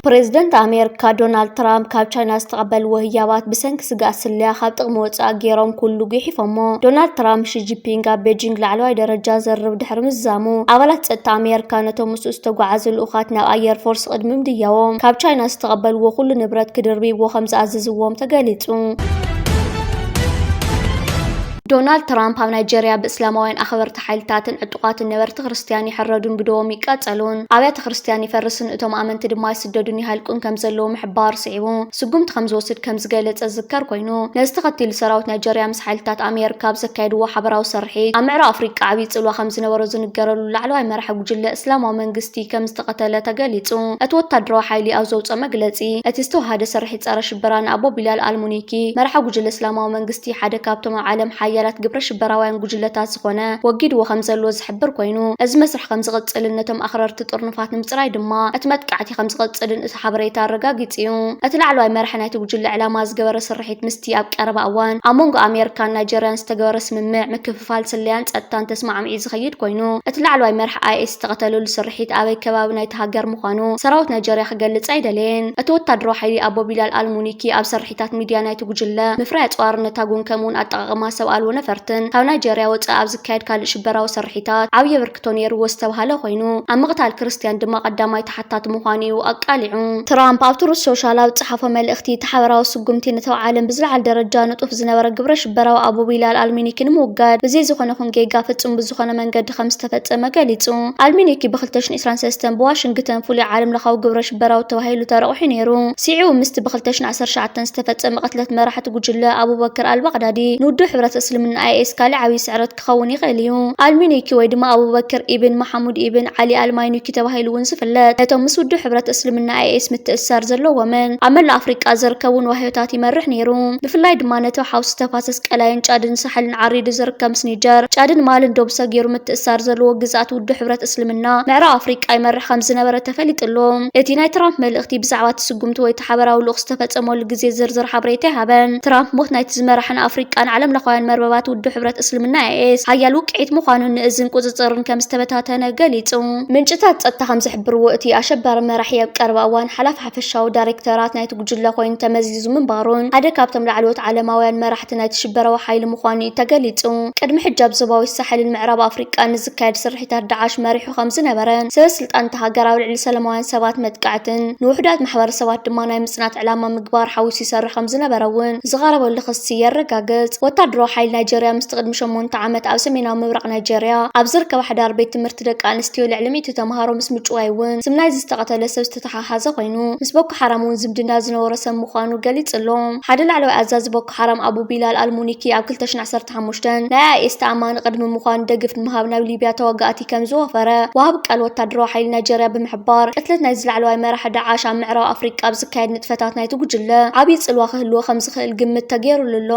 ፕሬዝደንት ኣሜሪካ ዶናልድ ትራምፕ ካብ ቻይና ዝተቐበልዎ ህያባት ብሰንኪ ስጋእ ስለያ ካብ ጥቕሚ ወፃእ ገይሮም ኩሉ ጉሒፎሞ። ዶናልድ ትራምፕ ሺጂፒንግ ኣብ ቤጂንግ ላዕለዋይ ደረጃ ዘርርብ ድሕሪ ምዝዛሙ ኣባላት ፀጥታ ኣሜሪካ ነቶም ምስኡ ዝተጓዓዙ ልኡኻት ናብ ኣየር ፎርስ ቅድሚ ምድያቦም ካብ ቻይና ዝተቐበልዎ ኩሉ ንብረት ክድርብይዎ ከም ዝኣዘዝዎም ተገሊጹ። ዶናልድ ትራምፕ ኣብ ናይጀርያ ብእስላማውያን ኣኽበርቲ ሓይልታትን ዕጡቓትን ነበርቲ ክርስትያን ይሕረዱን ብደዎም ይቃጸሉን፣ ኣብያተ ክርስትያን ይፈርስን እቶም ኣመንቲ ድማ ይስደዱን ይሃልቁን ከምዘለዉ ምሕባሩ ስዒቡ ስጉምቲ ከምዝወስድ ከምዝገለጸ ዝዝከር ኮይኑ፣ ነዚ ተኸቲሉ ሰራዊት ናይጀርያ ምስ ሓይልታት ኣሜርካ ኣብ ዘካየድዎ ሓበራዊ ስርሒት፣ ኣብ ምዕራብ ኣፍሪቃ ዓብዪ ጽልዋ ከምዝነበሮ ዝንገረሉ ላዕለዋይ መራሒ ጉጅለ እስላማዊ መንግስቲ ከምዝተቐተለ ተገሊጹ። እቲ ወታደራዊ ሓይሊ ኣብ ዘውጽኦ መግለጺ፣ እቲ ዝተወሃደ ስርሒት ጸረ-ሽበራ ንኣቡ ቢላል ኣል-ሙኒኪ፣ መራሒ ጉጅለ እስላማዊ መንግስቲ፣ ሓደ ካብቶም ኣብ ዓለም ሓያላት ግብረ-ሽበራውያን ጉጅለታት ዝኾነ፣ ወጊድዎ ከምዘሎ ዝሕብር ዝሕብር ኮይኑ፣ እዚ መስርሕ ከም ዝቕጽልን ነቶም ኣኽረርቲ ጥርኑፋት ንምጽራይ ድማ እቲ መጥቃዕቲ ከም ዝቕጽልን እቲ ሓበሬታ ኣረጋጊጹ እዩ። እቲ ላዕለዋይ መራሒ ናይቲ ጉጅለ ዕላማ ዝገበረ ስርሒት ምስቲ ኣብ ቀረባ እዋን ኣብ መንጎ ኣሜሪካን ናይጀርያን ዝተገበረ ስምምዕ ምክፍፋል ስለያን ጸጥታን ተስማዕሚዑ ዝኸይድ ኮይኑ፣ እቲ ላዕለዋይ መራሒ ኣይኤስ ዝተቐተለሉ ስርሒት ኣበይ ከባቢ ናይቲ ሃገር ምዃኑ ሰራዊት ናይጀርያ ክገልጽ ኣይደለየን። እቲ ወታደራዊ ሓይሊ ኣቦ ቢላል ኣል-ሙኒኪ ኣብ ስርሒት። ትካላት ሚድያ ናይቲ ጉጅለ፣ ምፍራይ ኣጽዋርን ነታጕን ከምኡ'ውን ኣጠቓቕማ ሰብ ኣልቦ ነፈርትን ካብ ናይጀርያ ወጻኢ ኣብ ዝካየድ ካልእ ሽበራዊ ስርሒታት ዓብዪ ኣበርክቶ ነይርዎ ዝተብሃለ ኰይኑ፣ ኣብ ምቕታል ክርስትያን ድማ ቀዳማይ ተሓታቲ ምዃኑ'ዩ ኣቃሊዑ። ትራምፕ ኣብ ትሩዝ ሶሻል ኣብ ዝጸሓፎ መልእኽቲ፣ እቲ ሓበራዊ ስጕምቲ ነቲ ኣብ ዓለም ብዝለዓለ ደረጃ ንጡፍ ዝነበረ ግብረ-ሽበራዊ ኣቡ ቢላል ኣል-ሚኒኪ ንምውጋድ ብዘይ ዝዀነ ኹን ጌጋ ፍጹም ብዝዀነ መንገዲ ከም ዝተፈጸመ ገሊጹ። ኣል-ሚኒኪ ብ ክልተ ሽሕን ዕስራን ሰለስተን ብዋሽንግተን ፍሉይ ዓለምለኻዊ ግብረ በራውት ተባሂሉ ተረቑሑ ነይሩ። ስዒቡ ምስቲ ብ2019 ዝተፈጸመ ቅትለት መራሕቲ ጉጅለ ኣቡበክር ኣል-ባቕዳዲ ንውድብ ሕብረት እስልምና፣ ኣይኤስ፣ ካልእ ዓብዪ ስዕረት ክኸውን ይኽእል እዩ። ኣል-ሚኑይኪ ወይ ድማ ኣቡበክር ኢብን መሓሙድ ኢብን ዓሊ ኣል-ማይኑኪ ተባሂሉ እውን ዝፍለጥ፣ ነቶም ምስ ውድብ ሕብረት እስልምና፣ ኣይኤስ፣ ምትእስሳር ዘለዎምን ኣብ መላእ ኣፍሪቃ ዝርከቡን ዋህዮታት ይመርሕ ነይሩ። ብፍላይ ድማ ነቲ ሓውሲ ተፋሰስ ቀላይን ጫድን ሳሕልን ዓሪዱ ዝርከብ ምስ ኒጀር፣ ጫድን ማልን ዶብ ሰጊሩ ምትእስሳር ዘለዎ ግዝኣት ውድብ ሕብረት እስልምና ምዕራብ ኣፍሪቃ ይመርሕ ከምዝነበረ ተፈሊጡ ኣሎ። እቲ ናይ ትራምፕ መልእኽቲ ብዛዕባ እቲ ስጕምቲ ወይ እቲ ሓባራዊ ልኡኽ ዝተፈጸመሉ ግዜ ዝርዝር ሓበሬታ ኣይሃበን። ትራምፕ ሞት ናይቲ ዝመርሓ ንኣፍሪቃን ዓለምለኻውያን መርበባት ውድብ ሕብረት እስልምና፣ ኣይኤስ፣ ሓያል ውቅዒት ምዃኑን ንእዝን ቍጽጽርን ከም ዝተበታተነ ገሊጹ። ምንጭታት ጸጥታ ከም ዝሕብርዎ፣ እቲ ኣሸባሪ መራሒ ኣብ ቀረባ እዋን ሓላፊ ሓፈሻዊ ዳይረክተራት ናይቲ ጕጅለ ኰይኑ ተመዚዙ ምንባሩን ሓደ ካብቶም ላዕለዎት ዓለማውያን መራሕቲ ናይቲ ሽበራዊ ሓይሊ ምዃኑን'ዩ ተገሊጹ። ቅድሚ ሕጂ ኣብ ዞባዊ ሳሕልን ምዕራብ ኣፍሪቃን ንዝካየድ ስርሒታት ዳዕሽ መሪሑ ከምዝነበረን፣ ሰበስልጣን እታ ሃገር ኣብ ልዕሊ ሰለማውያን ሰባት መጥቃዕትን ንውሑዳት ማሕበረሰባት ድማ ናይ ምጽናት ዕላማ ምግባር ሓዊሱ ይሰርሕ ከምዝነበረ እውን ዝቐረበሉ ክሲ የረጋግጽ። ወታደራዊ ሓይሊ ናይጀርያ ምስቲ ቅድሚ ሸሞንተ ዓመት ኣብ ሰሜናዊ ምብራቕ ናይጀርያ ኣብ ዝርከባ ሓዳር ቤት ትምህርቲ ደቂ ኣንስትዮ ልዕሊ ሚእቲ ተምሃሮ ምስ ምጭዋይ እውን ስም ናይዚ ዝተቐተለ ሰብ ዝተተሓሓዘ ኮይኑ፣ ምስ ቦኮ ሓራም እውን ዝምድና ዝነበሮ ሰብ ምዃኑ ገሊጹ ኣሎ። ሓደ ላዕለዋይ ኣዛዚ ቦኮ ሓራም ኣቡ ቢላል ኣል-ሙኒኪ ኣብ ክልተ ሽሕን ዓሰርተ ሓሙሽተን ናይ ኣይኤስ ተኣማኒ ቅድሚ ምዃኑ ደግፍ ንምሃብ ናብ ሊብያ ተዋጋእቲ ከም ዝወፈረ ወሃቢ ቃል ወታደራዊ ሓይሊ ናይጀርያ ብምሕባር ቅትለት ናይዚ ላዕለዋይ መራሒ ዳዕሽ ኣብ ምዕራብ ኣፍሪቃ ኣብ ዝካየድ ንጥፈታት ናይቲ ጉጅለ ዓብዪ ጽልዋ ክህልዎ ከም ዝኽእል ግምት ተገይሩሉ ኣሎ።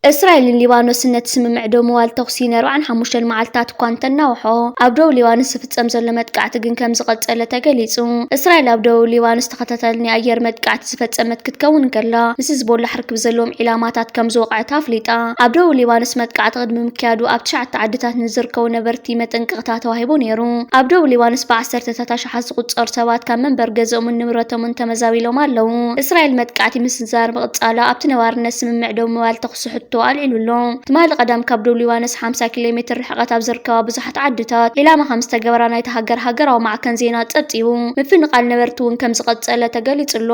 እስራኤልን ሊባኖስን ነቲ ስምምዕ ደው ምባል ተዅሲ ንኣርብዓን ሓሙሽተን መዓልትታት እኳ እንተናውሖ፣ ኣብ ደቡብ ሊባኖስ ዝፍጸም ዘሎ መጥቃዕቲ ግን ከም ዝቐጸለ ተገሊጹ። እስራኤል ኣብ ደቡብ ሊባኖስ ተኸታታሊ ናይ ኣየር መጥቃዕቲ ዝፈጸመት ክትከውን እንከላ፣ ምስ ህዝቦላሕ ርክብ ዘለዎም ዒላማታት ከም ዝወቕዐት ኣፍሊጣ። ኣብ ደቡብ ሊባኖስ መጥቃዕቲ ቅድሚ ምክያዱ ኣብ ትሽዓተ ዓድታት ንዝርከቡ ነበርቲ መጠንቀቕታ ተዋሂቡ ነይሩ። ኣብ ደቡብ ሊባኖስ ብዓሰርተታት ኣሽሓት ዝቑጸሩ ሰባት ካብ መንበሪ ገዝኦምን ንብረቶምን ተመዛቢሎም ኣለዉ። እስራኤል መጥቃዕቲ ምስንዛር ምቕጻላ ኣብቲ ነባርነት ስምምዕ ደው ምባል ተኹሲ ሕቶ ኣልዒሉ ኣሎ። ትማሊ ቀዳም ካብ ዶብ ሊባኖስ ሓምሳ ኪሎ ሜትር ርሕቐት ኣብ ዝርከባ ብዙሓት ዓድታት ዒላማ ከም ዝተገበራ ናይታ ሃገር ሃገራዊ ማዕከን ዜና ጸብጺቡ። ምፍንቓል ነበርቲ እውን ከም ዝቐጸለ ተገሊጹ ኣሎ።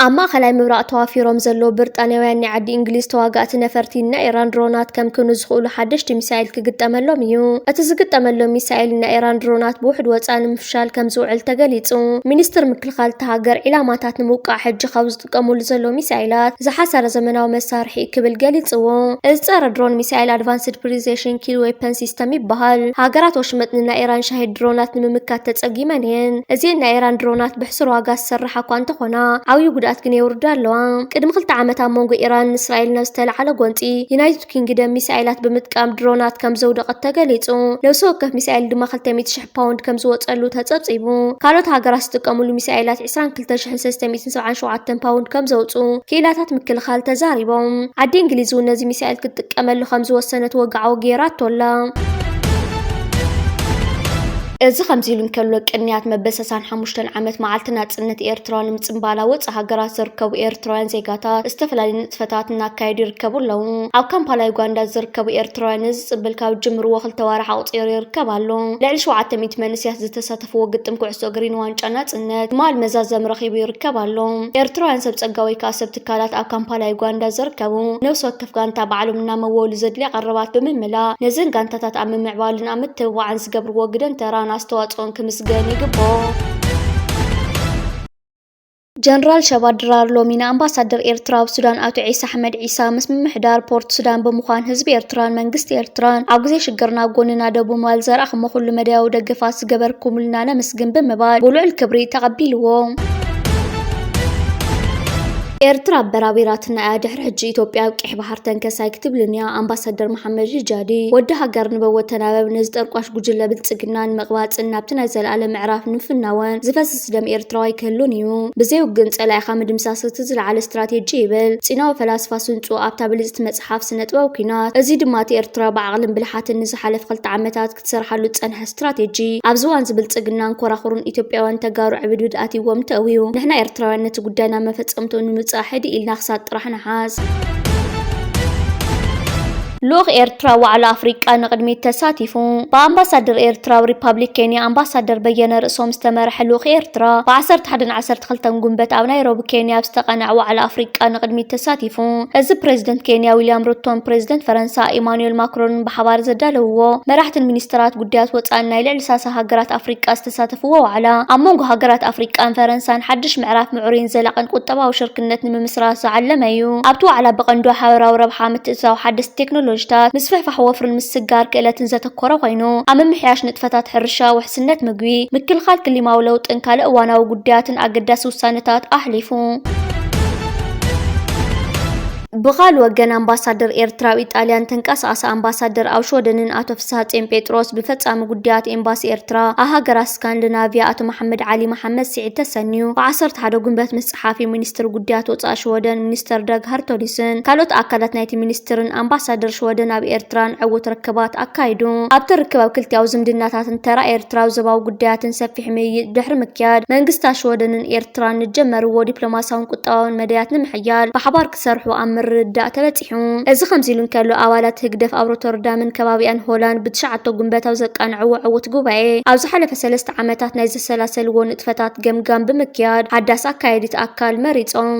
ኣብ ማእኸላይ ምብራቕ ተዋፊሮም ዘለዉ ብርጣንያውያን ናይ ዓዲ እንግሊዝ ተዋጋእቲ ነፈርቲ ናይ ኢራን ድሮናት ከምክኑ ዝኽእሉ ሓደሽቲ ሚሳኤል ክግጠመሎም እዩ። እቲ ዝግጠመሎም ሚሳኤል ናይ ኢራን ድሮናት ብውሕድ ወፃኢ ንምፍሻል ከም ዝውዕል ተገሊፁ። ሚኒስትር ምክልኻል እታ ሃገር ዒላማታት ንምውቃዕ ሕጂ ካብ ዝጥቀሙሉ ዘለዉ ሚሳኤላት ዝሓሰረ ዘመናዊ መሳርሒ ክብል ገሊጽዎ። እዚ ጸረ ድሮን ሚሳኤል ኣድቫንስድ ፕሪሲሽን ኪል ዌፐን ሲስተም ይበሃል። ሃገራት ወሽመጥ ንናይ ኢራን ሻሂድ ድሮናት ንምምካት ተጸጊመን እየን። እዚኤን ናይ ኢራን ድሮናት ብሕሱር ዋጋ ዝስራሓ እኳ እንተኾና ዓብዩ ጉድኣት ግን የውርዳ ኣለዋ። ቅድሚ ክልተ ዓመት ኣብ መንጎ ኢራንን እስራኤልን ኣብ ዝተልዓለ ጎንጺ ዩናይትድ ኪንግደም ሚሳኤላት ብምጥቃም ድሮናት ከም ዘውደቐት ተገሊጹ። ነብሲ ወከፍ ሚሳኤል ድማ ክልተ ሚእቲ ሽሕ ፓውንድ ከም ዝወጸሉ ተጸብጺቡ። ካልኦት ሃገራት ዝጥቀምሉ ሚሳኤላት ዕስራን ክልተ ሽሕን ሰለስተ ሚእትን ሰብዓን ሸውዓተን ፓውንድ ከም ዘውጽኡ ክኢላታት ምክልኻል ተዛሪቦም። ዓዲ እንግሊዝ'ውን ነዚ ሚሳኤል ክትጥቀመሉ ከም ዝወሰነት ወግዓዊ ገይራቶ ኣላ። እዚ ከምዚ ኢሉ እንከሎ ቅንያት መበሰሳን ሓሙሽተን ዓመት መዓልቲ ናጽነት ኤርትራ ንምጽንባላ ወጻእ ሃገራት ዝርከቡ ኤርትራውያን ዜጋታት ዝተፈላለዩ ንጥፈታት እናካየዱ ይርከቡ ኣለዉ። ኣብ ካምፓላ ዩጋንዳ ዝርከቡ ኤርትራውያን እዚ ጽምብል ካብ ዝጅምርዎ ክልተ ኣዋርሕ ኣቑጺሩ ይርከብ ኣሎ። ልዕሊ ሸውዓተ ሚእቲ መንእሰያት ዝተሳተፍዎ ግጥም ኩዕሶ እግሪ ንዋንጫ ናጽነት ትማል መዛዘሚ ረኺቡ ይርከብ ኣሎ። ኤርትራውያን ሰብ ጸጋ ወይ ከኣ ሰብ ትካላት ኣብ ካምፓላ ዩጋንዳ ዝርከቡ ነብሲ ወከፍ ጋንታ ባዕሎም እናመወሉ ዘድልያ ቀረባት ብምምላእ ነዘን ጋንታታት ኣብ ምምዕባልን ኣብ ምትብባዕን ዝገብርዎ ግደን ተራን ኣስተዋጽኦን ክምስገን ይግብኦ። ጀነራል ሸባት ድራር ሎሚ ንኣምባሳደር ኤርትራ ኣብ ሱዳን ኣቶ ዒሳ ኣሕመድ ዒሳ ምስ ምምሕዳር ፖርት ሱዳን ብምዃን ህዝቢ ኤርትራን መንግስቲ ኤርትራን ኣብ ግዜ ሽግርና ኣብ ጎንና ደው ብምባል ዘርኣኹሞ ኩሉ መዳያዊ ደገፋት ዝገበርኩምልና ነምስግን ብምባል ብልዑል ክብሪ ተቐቢልዎም። ኤርትራ ኣበራቢራትና እያ ድሕሪ ሕጂ ኢትዮጵያ ኣብ ቂሕ ባሕር ተንከስ ኣይክትብልን እያ ኣምባሳደር መሓመድ ሪጃዲ ወዲ ሃገር ንበወ ተናበብ ነዚ ጠርቋሽ ጉጅለ ብልጽግና ንምቕባጽን ናብቲ ናይ ዘለኣለም ምዕራፍ ንምፍናወን ዝፈስስ ምድምሳስ ደም ኤርትራዊ ኣይክህሉን እዩ። ብዘይ ውግን ጸላኢኻ ምድምሳስ እቲ ዝለዓለ ስትራቴጂ ይብል ጺናዊ ፈላስፋ ስንጹ ኣብታ ብልጽቲ መጽሓፍ ስነጥበብ ኩናት። እዚ ድማ እቲ ኤርትራ ብዓቕልን ብልሓትን ንዝሓለፈ ክልተ ዓመታት ክትሰርሓሉ ዝጸንሐ ስትራቴጂ ኣብዚ እዋንዚ ብልጽግናን ኮራኹሩን ኢትዮጵያውያን ተጋሩ ዕብድብድ ኣትይዎም ተእውዩ። ንሕና ኤርትራውያን ነቲ ጉዳይ ናብ መፈጸምትኡ ንምብጻሕ ህድእ ኢልና ክሳድ ጥራሕ ንሓዝ። ልኡኽ ኤርትራ ዋዕላ ኣፍሪቃ ንቕድሚት ተሳቲፉ። ብኣምባሳደር ኤርትራ ኣብ ሪፓብሊክ ኬንያ ኣምባሳደር በየነ ርእሶም ዝተመርሐ ልኡኽ ኤርትራ ብ ዓሰርተ ሓደን ዓሰርተ ክልተን ጉንበት ኣብ ናይሮቢ ኬንያ ኣብ ዝተቓነዐ ዋዕላ ኣፍሪቃ ንቕድሚት ተሳቲፉ። እዚ ፕረዚደንት ኬንያ ዊልያም ሩቶን ፕረዚደንት ፈረንሳ ኢማኑኤል ማክሮንን ብሓባር ዘዳለውዎ መራሕትን ሚኒስተራት ጉዳያት ወጻእን ናይ ልዕሊ ሳሳ ሃገራት ኣፍሪቃ ዝተሳተፍዎ ዋዕላ፣ ኣብ መንጎ ሃገራት ኣፍሪቃን ፈረንሳን ሓድሽ ምዕራፍ ምዕሩይን ዘላቒን ቁጠባዊ ሽርክነት ንምምስራት ዝዓለመ እዩ። ኣብቲ ዋዕላ ብቐንዱ ሓበራዊ ረብሓ፣ ምትእትታው ሓደስቲ ቴክኖሎጂታት፣ ምስፍሕፋሕ ወፍሪን ምስግጋር ክእለትን ዘተኮረ ኮይኑ፣ ኣብ ምምሕያሽ ንጥፈታት ሕርሻ፣ ውሕስነት ምግቢ፣ ምክልኻል ክሊማዊ ለውጥን ካልእ እዋናዊ ጉዳያትን ኣገዳሲ ውሳነታት ኣሕሊፉ። ብኻል ወገን ኣምባሳደር ኤርትራ ኣብ ኢጣልያን ተንቀሳቐሰ ኣምባሳደር ኣብ ሽወደንን ኣቶ ፍስሃጼን ጴጥሮስ ብፈጻሚ ጉዳያት ኤምባሲ ኤርትራ ኣብ ሃገራት ስካንድናቭያ ኣቶ መሓመድ ዓሊ መሓመድ ስዒድ ተሰንዩ ብ ዓሰርተ ሓደ ጉንበት ምስ ጸሓፊ ሚኒስትሪ ጉዳያት ወጻኢ ሽወደን ሚኒስተር ዳግ ሃርቶሊስን ካልኦት ኣካላት ናይቲ ሚኒስትርን ኣምባሳደር ሽወደን ኣብ ኤርትራን ዕዉት ርክባት ኣካይዱ። ኣብቲ ርክብ ኣብ ክልቲኣዊ ዝምድናታትን ተራ ኤርትራ ኣብ ዞባዊ ጉዳያትን ሰፊሕ ሰፊሕ ምይይጥ ድሕሪ ምክያድ፣ መንግስታት ሽወደንን ኤርትራን ንጀመርዎ ዲፕሎማስያውን ቁጠባውን መዳያት ንምሕያል ብሓባር ክሰርሑ ኣብ ምርድዳእ ተበጺሑ። እዚ ከምዚሉ እንከሎ፣ ኣባላት ህግደፍ ኣብ ሮተርዳምን ከባቢኣን ሆላንድ ብትሽዓተ ጉንበት ኣብ ዘቃንዕዎ ዕዉት ጉባኤ፣ ኣብ ዝሓለፈ ሰለስተ ዓመታት ናይ ዘሰላሰልዎ ንጥፈታት ገምጋም ብምክያድ ሓዳስ ኣካያዲት ኣካል መሪጾም።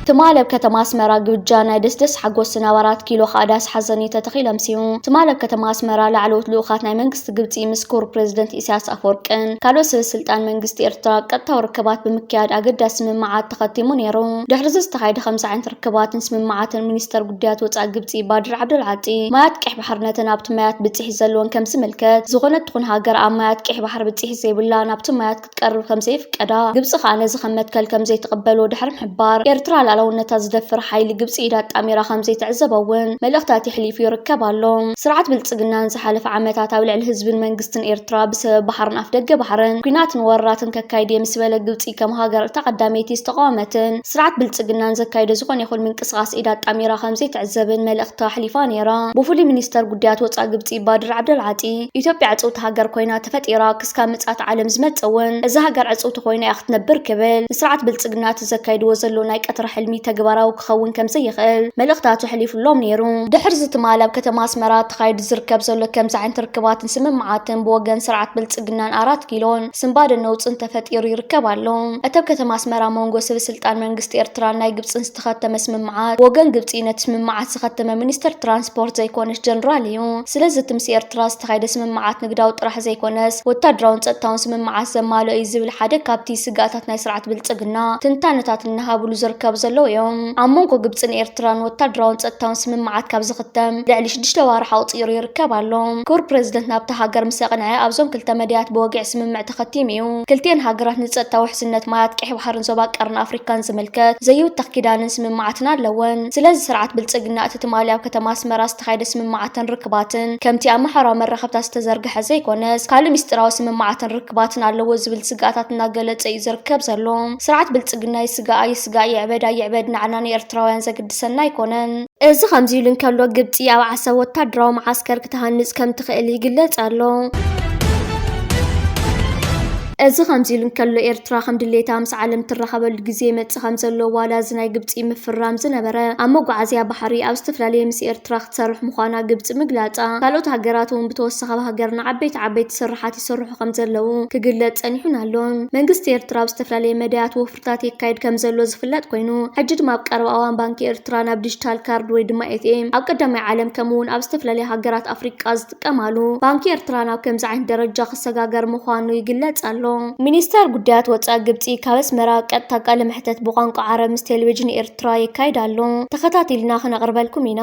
ትማል ኣብ ከተማ ኣስመራ ግብጃ ናይ ደስደስ ሓጎስን ኣብ ኣራት ኪሎ ከኣ ዳስ ሓዘን'ዩ ተተኺሎም ሲኡ። ትማል ኣብ ከተማ ኣስመራ ላዕለዎት ልኡኻት ናይ መንግስቲ ግብጺ ምስ ክቡር ፕረዚደንት ኢሳያስ ኣፈወርቅን ካልኦት ሰበስልጣን መንግስቲ ኤርትራ ቀጥታዊ ርክባት ብምክያድ ኣገዳሲ ስምምዓት ተኸቲሙ ነይሩ። ድሕሪ'ዚ ዝተኻየደ ከምዚ ዓይነት ርክባትን ስምምዓትን ሚኒስተር ጉዳያት ወጻኢ ግብጺ ባድር ዓብደል ዓጢ ማያት ቀይሕ ባሕሪ ነተን ኣብቲ ማያት ብጽሒት ዘለወን ከምዝምልከት ዝኾነት ትኹን ሃገር ኣብ ማያት ቀይሕ ባሕሪ ብጽሒት ዘይብላ ናብቲ ማያት ክትቀርብ ከምዘይፍቀዳ፣ ግብጺ ከኣ ነዚ ከም መትከል ከምዘይትቕበሎ ድሕሪ ምሕባር፣ ኤርትራ ልኣላውነታ ዝደፍር ሓይሊ ግብጺ ኢዳ ኣጣሚራ ከምዘይትዕዘቦ'ውን መልእኽቲ ኣትሕሊፉ ይርከብ ኣሎ። ስርዓት ብልጽግና ንዝሓለፈ ዓመታት ኣብ ልዕሊ ህዝብን መንግስትን ኤርትራ ብሰበብ ባሕርን ኣፍደገ ባሕርን ኲናትን ወረራትን ከካይድ'የ ምስ በለ ግብጺ ከም ሃገር እታ ቀዳመይቲ ዝተቓወመትን ስርዓት ብልጽግና ንዘካይዶ ዝኾነ ይኹን ምንቅስቓስ ኢዳ ኣጣሚራ ከምዘይትዕዘብን መልእኽቲ ኣሕሊፋ ነይራ። ብፍሉይ ሚኒስተር ጉዳያት ወጻኢ ግብጺ ባድር ዓብደልዓጢ፣ ኢትዮጵያ ዕጽውቲ ሃገር ኮይና ተፈጢራ እስካብ ምጽኣት ዓለም ዝመጽእ ውን እዛ ሃገር ዕጽውቲ ኮይና እያ ክትነብር ክብል ንስርዓት ብልጽግና እቲ ዘካይድዎ ዘሎ ናይ ቀትሪ ሕልሚ ተግባራዊ ክኸውን ከምዘይኽእል መልእኽታት ኣሕሊፉሎም ነይሩ። ድሕሪዚ ትማል ኣብ ከተማ ኣስመራ ተኻይዱ ዝርከብ ዘሎ ከምዚ ዓይነት ርክባትን ስምምዓትን ብወገን ስርዓት ብልጽግናን ኣራት ኪሎን ስንባደን ነውጽን ተፈጢሩ ይርከብ ኣሎ። እቲ ኣብ ከተማ ኣስመራ መንጎ ስብስልጣን መንግስቲ ኤርትራን ናይ ግብጽን ዝተኸተመ ስምምዓት ብወገን ግብጺ ነቲ ስምምዓት ዘኸተመ ሚኒስተር ትራንስፖርት ዘይኮነሽ ጀነራል እዩ። ስለዚ እቲ ምስ ኤርትራ ዝተኻየደ ስምምዓት ንግዳዊ ጥራሕ ዘይኮነስ ወታደራውን ጸጥታውን ስምምዓት ዘማልኦ እዩ ዝብል ሓደ ካብቲ ስግኣታት ናይ ስርዓት ብልጽግና ትንታነታት እናሃብሉ ዝርከቡ ዘለዉ እዮም። ኣብ መንጎ ግብጽን ኤርትራን ወታደራውን ጸጥታውን ስምምዓት ካብ ዝኽተም ልዕሊ ሽዱሽተ ኣዋርሕ ኣቑጺሩ ይርከብ ኣሎ። ክቡር ፕረዚደንት ናብታ ሃገር ምስ ኣቕንዐ ኣብዞም ክልተ መዳያት ብወግዒ ስምምዕ ተኸቲሙ እዩ። ክልቲኤን ሃገራት ንጸጥታ ውሕስነት ማያት ቀይሕ ባሕርን ዞባ ቀርኒ ኣፍሪካን ዝምልከት ዘይውተኽ ኪዳንን ስምምዓትን ኣለወን። ስለዚ ስርዓት ብልጽግና እቲ ትማሊ ኣብ ከተማ ኣስመራ ዝተኻየደ ስምምዓትን ርክባትን ከምቲ ኣብ ማሕበራዊ መራኸብታት ዝተዘርግሐ ዘይኮነስ ካልእ ሚስጢራዊ ስምምዓትን ርክባትን ኣለዎ ዝብል ስግኣታት እናገለፀ እዩ ዝርከብ ዘሎ። ስርዓት ብልፅግና ይስጋኣ ይስጋእ ይዕበዳ ይዕበድ ንዓና ንኤርትራውያን ዘግድሰና ኣይኮነን። እዚ ከምዚ ኢሉ እንከሎ ግብፂ ኣብ ዓሰብ ወታደራዊ መዓስከር ክትሃንፅ ከምትኽእል ይግለፅ ኣሎ። እዚ ከምዚ ኢሉ እንከሎ ኤርትራ ከም ድሌታ ምስ ዓለም እትራኸበሉ ግዜ ከም ዘሎ ዋላ እዚ ናይ ግብጺ ምፍርራም ዝነበረ ኣብ መጓዓዝያ ባሕሪ ኣብ ዝተፈላለየ ምስ ኤርትራ ክትሰርሕ ምዃና ግብጺ ምግላጻ ካልኦት ሃገራት ውን ብተወሳኺ ኣብ ሃገርና ዓበይቲ ዓበይቲ ስርሓት ይስርሑ ከም ዘለዉ ክግለጽ ጸኒሑን ኣሎን። መንግስቲ ኤርትራ ኣብ ዝተፈላለየ መዳያት ወፍርታት የካይድ ከም ዘሎ ዝፍለጥ ኮይኑ ሕጂ ድማ ኣብ ቀረባ እዋን ባንኪ ኤርትራ ናብ ዲጂታል ካርድ ወይ ድማ ኤትኤም ኣብ ቀዳማይ ዓለም ከምኡ ውን ኣብ ዝተፈላለያ ሃገራት ኣፍሪቃ ዝጥቀማሉ ባንኪ ኤርትራ ናብ ከምዚ ዓይነት ደረጃ ክሰጋገር ምዃኑ ይግለጽ ኣሎ። ሚኒስተር ጉዳያት ወጻኢ ግብጺ ካብ ኣስመራ ቀጥታ ቃለ መሕተት ብቋንቋ ዓረብ ምስ ቴሌቪዥን ኤርትራ የካይድ ኣሎ። ተኸታቲልና ክነቕርበልኩም ኢና።